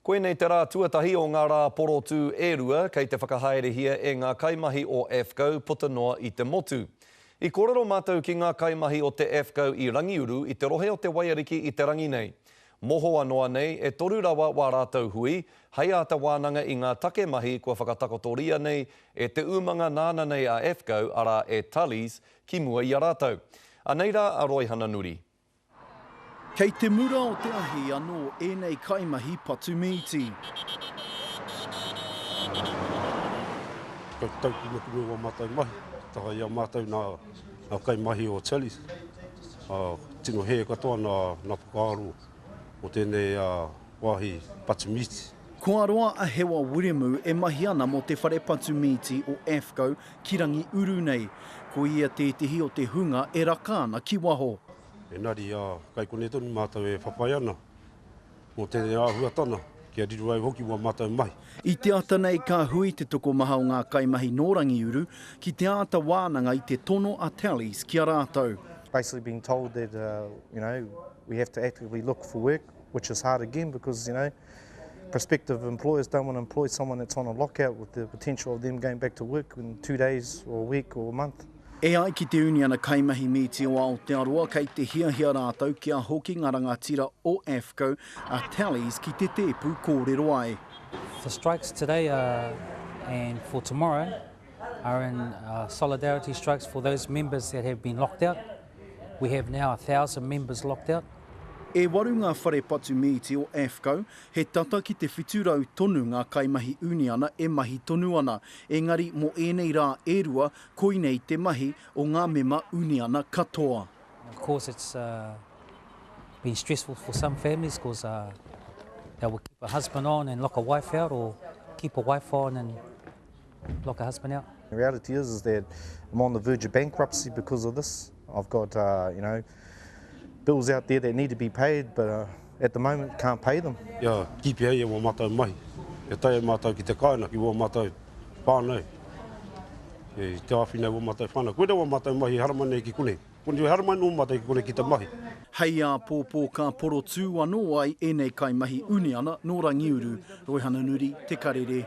Koinei te rā tuatahi o ngā rā porotū e rua kei te whakahaerehia e ngā kaimahi o AFCO puta noa i te motu. I kōrero mātou ki ngā kaimahi o te AFCO i Rangiuru i te rohe o Te Waiariki i te rangi nei. Mohoa noa nei, e toru rawa wā rātou hui, hei āta wānanga i ngā take mahi kua whakatakotoria nei e te umanga nāna nei a AFCO, arā e Tully's, ki mua i a rātou. Anei rā a Roy Hananuri. Kei te mura o te ahi anō ēnei kaimahi patu mīti. Kei tau puna puna wā mātou mahi, taha i a mātou nā kaimahi o Chalice. Tino hē katoa nā whakaaro o tēnei wāhi patu mīti. Kua roa a Hewa Wiremu e mahi ana mō te whare patu mīti o AFCO Ki Rangiuru nei, ko ia tētehi o te hunga e raka ana ki waho. Engari, kai konei tonu mātou e whawhai ana mō tēnei āhuatana, kia riro ai hoki wā mātou mahi. I te ata nei ka hui te tokomaha o ngā kaimahi nō Rangiuru ki te āta wānanga i te tono a Tallies ki a rātou. Basically being told that, you know, we have to actively look for work, which is hard again because, you know, prospective employers don't want to employ someone that's on a lockout with the potential of them going back to work in two days or a week or a month. E ai ki te Uniana Kaimahi Mīti o Aotearoa, kei te hiahia rātou kia hoki ngā rangatira o AFCO a Talley's ki te tēpu kōrero ai. The strikes today are, and for tomorrow are in uh, solidarity strikes for those members that have been locked out. We have now a thousand members locked out. E waru ngā whare patu mīti o AFCO, he tata ki te 700 tonu ngā kaimahi uniana e mahi tonu ana, engari mō ēnei rā e rua koinei te mahi o ngā mema uniana katoa. Of course it's been stressful for some families cos they will keep a husband on and lock a wife out or keep a wife on and Lock her husband out. The reality is, is that I'm on the verge of bankruptcy because of this. I've got, uh, you know, bills out there that need to be paid, but uh, at the moment can't pay them. Yeah, keep here, yeah, matai mai. E tai matai ki te kaina, ki matai whānau. E te awhina wa matai whānau. Koe wa matai mahi harama nei ki kone. Kone we harama no matai ki kone ki te mahi. Hei a pōpō ka porotū anō ai ēnei kaimahi uniana nō Rangiuru, Roihananuri, Te Karere,